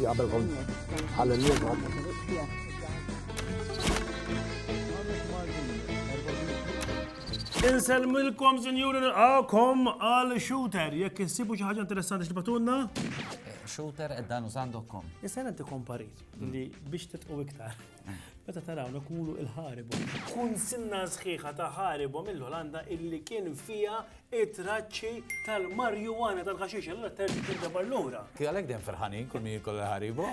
Qabel kont ħalli Inselmilkom, sinjuri, nilqakom għal shooter. Jekk insibu xi ħaġa interessanti x'tibatunna? Shooter ed dan użandokkom. Issa inti komparit li biex titqu iktar. Meta tarawna kulu il-ħaribu. Kunsinna sħiħa ta' ħaribu mill-Olanda illi kien fija it-traċċi tal-marjuwana tal-ħaxix, allura terġi tibda barlura. Ti għalek den ferħanin kull min jikol ħaribu?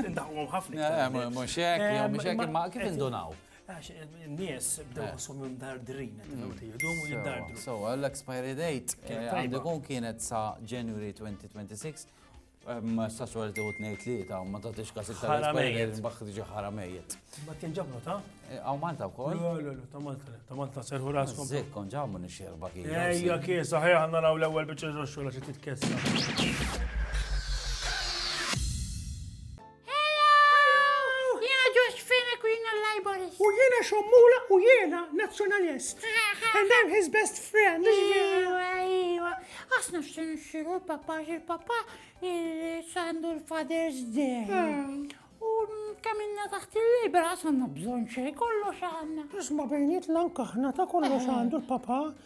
Indaħħom ħafna. Mux hekk, mux hekk, ma kif indunaw? Għax n-nies bdew jħossom jom dardrin, jidum u jiddardru. So, l-expiry date għandikun kienet sa January 2026 Ma jistax wara li tieħu tnejn tlieta u ma tagħtix każ iktar. Ħara mejjet. Mbaħħ tiġi ħara mejjet. Ma kien ġabru ta'? Hawn Malta wkoll? Le, le, le, ta' Malta le, ta' Malta serħu raskom. Żejt kon ġamu nixxerba kien. Ejja kien saħħi ħanna naraw l-ewwel biċċa xogħol xi titkessa. U jiena xommula u jiena nazzjonalist. And I'm his best friend. Iwa, iwa. Għasna xtin xiru l-papa, il-papa sandu l-Father's Day. U kaminna taħt il-libra għasanna bżon xej kollox għanna. Isma bejniet l-ankaħna ta' kollox għandu l-papa.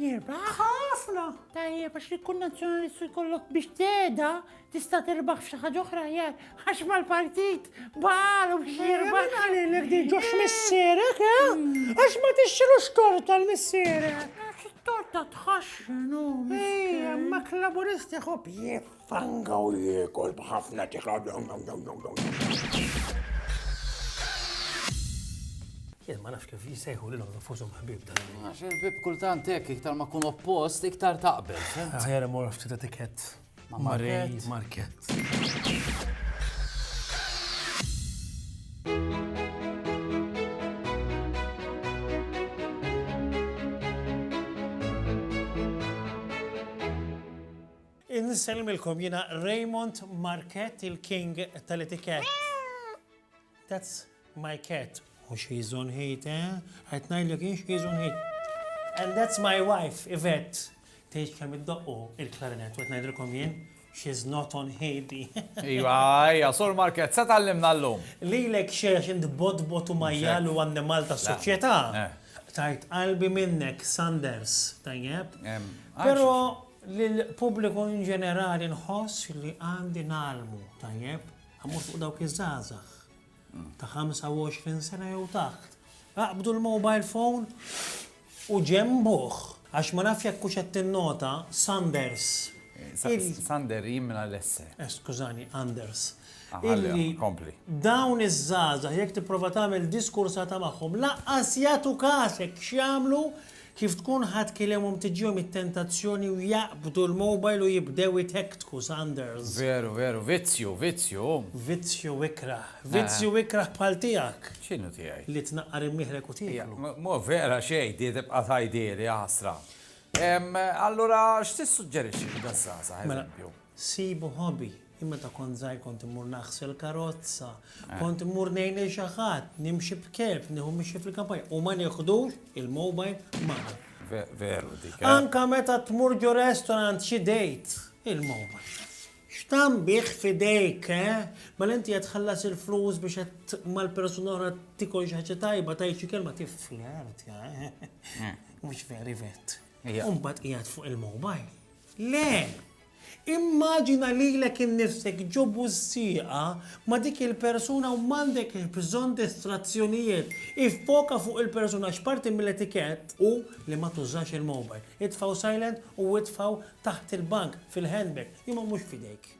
Jirbaħ? Ħafna! Tajjeb, għax li kun nazzjonalistu jkollok biex teda tista' tirbaħ f'xi ħaġa oħra jar, għax mal-partit balu biex jirbaħ. Jirbaħ għalilek di ġox missierek, eh? Hmm. Għax ma tixxilux torta l-missierek. Torta tħaxxinu. Ejja, ma klaburisti ħob jif. Fanga u jiekol b'ħafna tiħa. Jien ma nafx kif jisejħu li l-għom fużum ħbib dan. Għax il-bib kultant hekk iktar ma kun oppost iktar taqbel. Ħajra mor ftit etikett. Marej market. Insellmilkom jiena Raymond Marquette il-king tal-etikett. That's my cat. U she's on heat, eh? Qed ngħidlek jien she's on heat. And that's my wife, Yvette. Tgħidx kemm iddoqqu il-klarinett, qed ngħidilkom jien she's not on heat di. Iva, ija, sur Market, se tallimna l-lum. Lilek xejn xint botbot u majjal u annimal ta' soċjetà. Eh. Tajt qalbi minnek, Sanders, tajjeb. Pero Lill-pubbliku inġenerali nħoss li għandi ngħallmu tajjeb, mhux fuq dawk iż-żgħażagħ ta' 25 sena jew taħt. Aqbdu l-mobile phone u ġenbuh għax ma nafx jekk hux qed tinnota Sanders. Sander jien minn Alesse. Eh, skużani, Anders. Illi dawn iż-żgħażagħ jekk tipprova tagħmel diskursata magħhom laqqas jagħtu kasek x'jagħmlu Kif tkun ħadd kiliemhom tiġihom it-tentazzjoni u jaqbdu l-mobile u jibdew itekktku, Sanders. Veru, veru, vizzju, vizzju! Vizzju ikrah. Vizzju ikrah bħal tiegħek. X'inhu tiegħi? Li tnaqqar imnieħrek u tieklu. Mhu vera xejn, di tibqa' tgħidhieli, jaħasra. Allura x'tissuġġerixxi lil daż-żgħażagħ, eżempju? Sibu hobby. Jien meta kont żgħir kont immur naħsel karozza, kont immur ngħin lil xi ħadd, nimxi b'kelb, nieħu mixi fil-kampanja u ma nieħdux il-mobile magħna. Veru dik. Eh. Anka meta tmur ġo restaurant xi date, il-mobile. X'tam bih fidejk, eh? Mela inti qed tħallas il-flus biex qed mal-persuna oħra tikol xi ħaġa tajba tajt xi kelma tifler, eh? eh. Mhux veri vet. u mbagħad qiegħed fuq il-mobile. Le! Immaġina lilek innifsek ġo bużżieqa ma' dik il-persuna u m'għandek bżonn distrazzjonijiet. Iffoka fuq il-persuna għax parti mill-etikett hu li ma tużax il-mobile. Itfgħu silent u itfgħu taħt il-bank, fil-handbag, imma mhux f'idejk.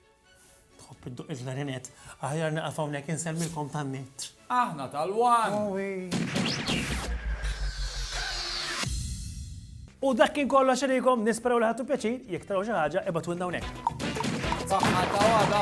Tħobb idduq il-klarinett? Aħjar nieqaf hawnhekk insemmilkom tan-net. Aħna tal-one! U dak kien kollox xerikom, nisperaw li ħattu pjaċir, jek taraw xi ħaġa, ibgħatulna hawnhekk. Saħħa ta' għada.